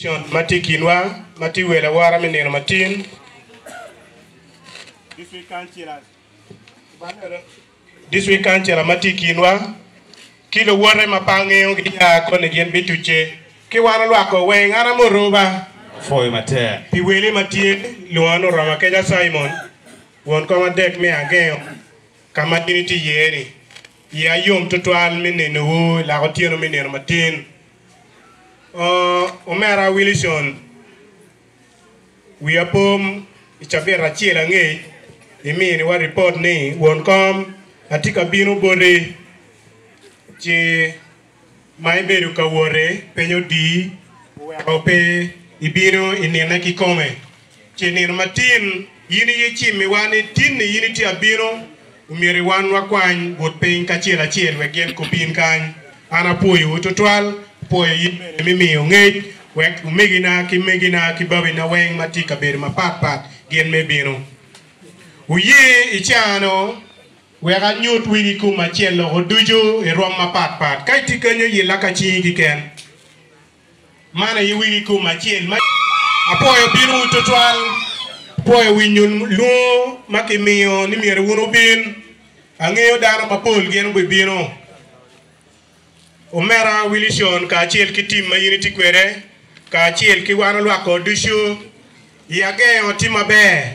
Cal ma tye i kinwa ma tye wel awora me nino matin. District Councillor ma tye i kinwa ki luwote ma pe angeyo ginya koni gin bitucce ki wan olwak ko weng. An amuruba apwoyo matek pi weli ma tye lwonga ni Oroma Keca Simon won kom adek me angeyo ka ma in itye iye ni. Iya yom tutwal me nenowu i lak otyeno me nino matin. Oh, Omera Wilison, wiya pom i cabit acel angec iminiwa ripot ni won kom atye ka bino boti ci ma ibedo ka wote piny odii oweko pe ibino i nine kikome. Ce nino matin in iye cimmiwa ni tinni in itye abino, omyero iwan wakwany but piny kacel acel wek gin kubin kany. An apwoyowu twatwal, apwoyo in bene me miyo ngec wek omegina ki megina ki babina weng ma tye i kabedo mapat pat gin me bino. Wuye i caano wek anyut wi gikum acel loko ducu i rwom mapat pat. Ka itye kenyo, yilla ka cingi kiken. Man aye wigi kom acel ma. Apwoyo pinwu twatwal, apwoyo winyo lwongo ma kimiyo ni myero wun wubin. Angeyo dano mapol gin gubibino. Omera Willison kacel ki tim ma in itye kwede, kacel ki wan olwak ot ducu, i ageo tye maber.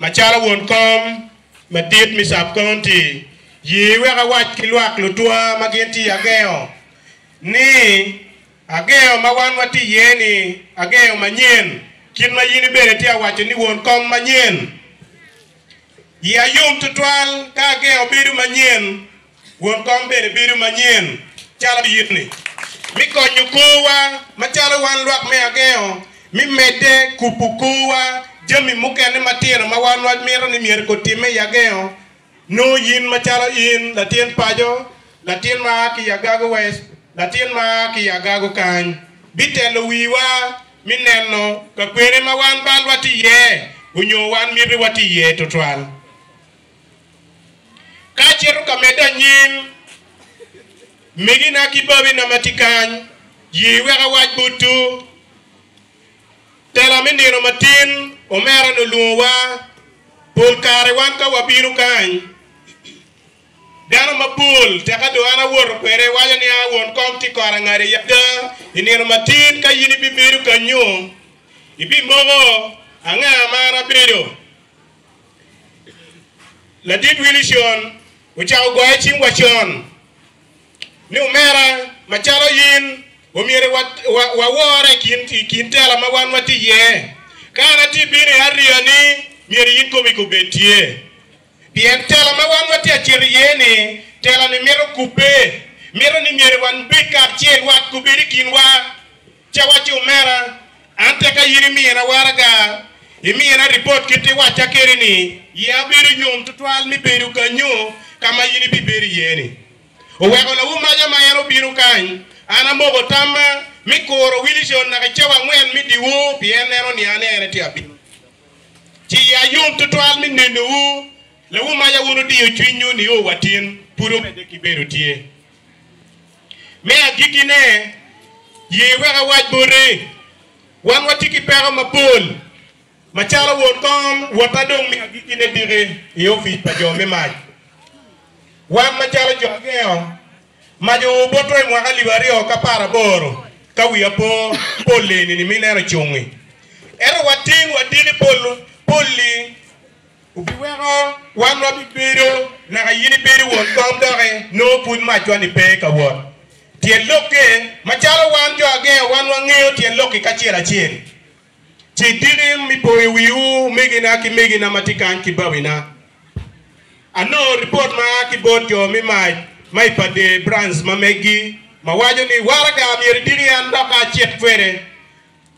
Macalo won kom madit me Sub County, ye wek awac ki lwak lutwa ma gin tye i Ageo ni, Ageo ma wan watye iye ni Ageo manyen, kit ma in ibed itye ka waco ni won kom manyen. Iya yom tutwal ka Ageo bedo manyen. Won kom bene bedo manyen calo yitni me konyo korwa macalo wan lwak me agengo me medde kubo korwa. Jami mukene matino ma wan wamito ni myero kutimme i agengo nongo yin macalo in latin paco, latin ma a ki i agago west, latin ma a ki i agago kany bitelo wiwa me neno ka kwene ma wan balwa tye iye onyo wan miti watye iye tutwal. Ka acito ka medde anyim, minina ki babina ma tye kany ye wek awac botwu. Tela me nino matin, omera-ni olwongowa. Pol kare wan ka wabino kany, dano mapol teka dong an awoto kwede waco ni, 'A won kom tye kor angada i ada. I nino matin ka in ibibedo kanyu, ibimoko anga ma an abedo. Ladit Wilson ocako goyo cing wacon ni, Omera, macalo in, omyero wawore i kin tela ma wan watye iye. Ka an atye bino i ariya-ni, myero in komi ka obed tye, pien tela ma wan watye ka cito iye-ni, tela-ni mito kubbe, mito ni myero wan bed kacel, wat kobed i kinwa. Ci awacci, Omera, an tek aye ni mira waraga, imina ripot kit iwacca kede ni, ye abedo yom twatwal mi bedo kanyo ka ma in ibibedo iye ni. Oweko lawu maca ma en obino kany, an amoko tamma mi kuro Wilison naka i cawa angwen mi diwo pien neno ni an ene ti abino. Ci ye ayom twatwal mi nenowu, lawu maca wun odiyo cwinnyu nio watin pud omedde ki bedo tye. Me agikkine, ye wek awac boti, wan watye ki peko mapol macalo won kom wa ma dong me agikkine tiki i opic pa jo me mac. Wan macalo jo agengo mac oo boto i mwaka alip aryo ki apar aboro ka wiya po pol eni ni mineno cungi. Ento watin wa tiki pol-li. Obiweko wan wabibedo naka in ibedo won kom doki nongo pud macwa-ni pe ka wot. Tyen lokke, Macalo wan jo agenga wan wangeyo tyen lokki kacel acel. Ci diki mi poyo wiwu megina ki megina ma tye kany ki bawina. Anongo ripot ma a ki bot jo me mac ma i pa Dee Branch ma meggi ma waco ni, Waraga myero idiki an dok acit kwede.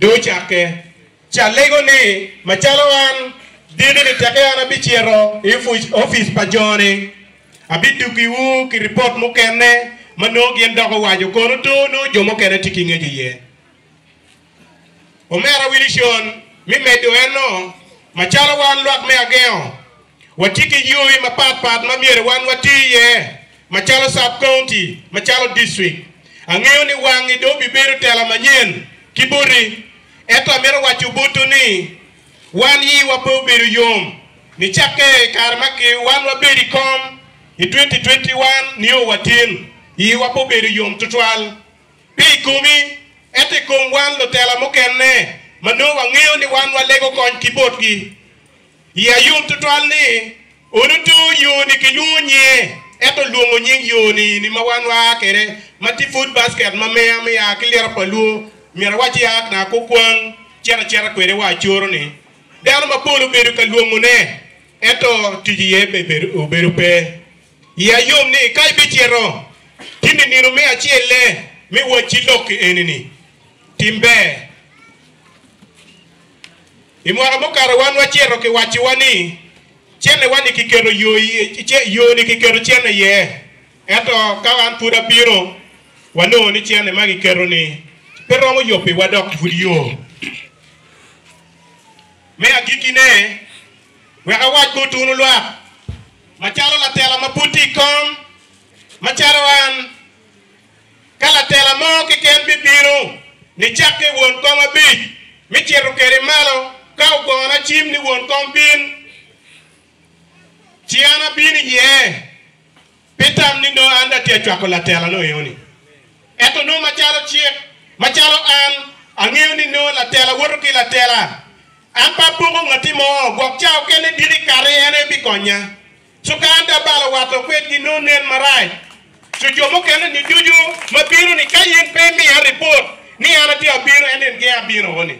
Dong ocakke calego ni, Macalo an dikini teke an abicito i opic pa jo-ni, abidukiwu ki ripot mukene ma nongo gin dok owaco kono tor nongo jo mukene tye ki ngeco iye. Omera Wilison, me medo eno, macalo wan lwak me agengo, Watye ki yoi mapat pat ma myero wan wati iye macalo sub county, macalo district. Angeyo ni wangi dong bibedo tela manyen ki boti, ento amito waco botwu ni wan iwa pe obedo yom nicakke i kare ma wan wabedo i kom i twenty twenty one nio watin. Iwa pe obedo yom twatwal pe i komi, ento i kom wan lutela mukene ma nongo wangeyo ni wan walego kony ki botgi. I Ayub tutwal ni, Onuto yo-ni kilwongo nyinge, ento lwongo nying yo-ni ni ma wan waa kwede ma tye pud basket ma miya me ya ki liro pa lwo, myero awac ya na ko kwang cito acita kwede wa coro-ni. Dano mapol obedo ka lwongone, ento tic iye obedo pe. I Ayub ni, Ka ibicito tin i nino me acelle me wacci lok-ki eni-ni, tim ber. I mwaka mukato wan wacito kiwacciwa ni cenne-wa-ni kiketo yo-ni kiketo cenne iye, ento ka an pud abino, wanongo ni cenne ma kiketo-ni pe romo yobbiwa dok pud yo. Me agikkine, wek awac bot wunu lwak, macalo latela ma pud tye i kom, macalo an, Ka latela mo keken bibino, nicakke won kom abic, mi cito kede malo, ka ogono acim ni won kom bin, ci an abino iye, pi tam ni nongo an dong atye ka cwako latelano eno-ni. Ento nongo macalo cik, macalo an angeyo ni nongo latela woto ki latela, an pe apoko ngatti mo, gwok cawa kene diki kati en aye bikonya. Cukan da balo wato kwedgi nongo nen marac cu jo mukene ni ducu ma bino ni ka in pe imiya ripot ni an atye abino ento in geng abino o ni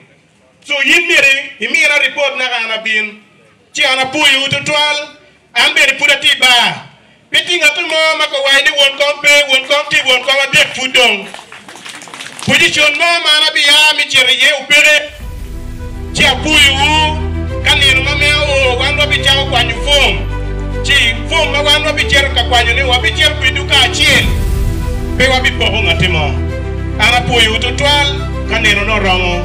cu in myero imina ripot naka an abin ci an apuyu wu tutwal an bene pud atye i bar pe tye ngatu mo ma kowayi ni won kom pe won kom tye won kom adek pud dong Pojicon mo ma an abiya me cito iye opeke, ci apuyowu, ka nino ma mea oo wan wabicako kwanyo fom, ci fom ma wan wabicito ka kwanyone wabicito kwedwu kacel, pe wabipoko ngatti mo. An apwoyowu twatwal ka ninone oromo.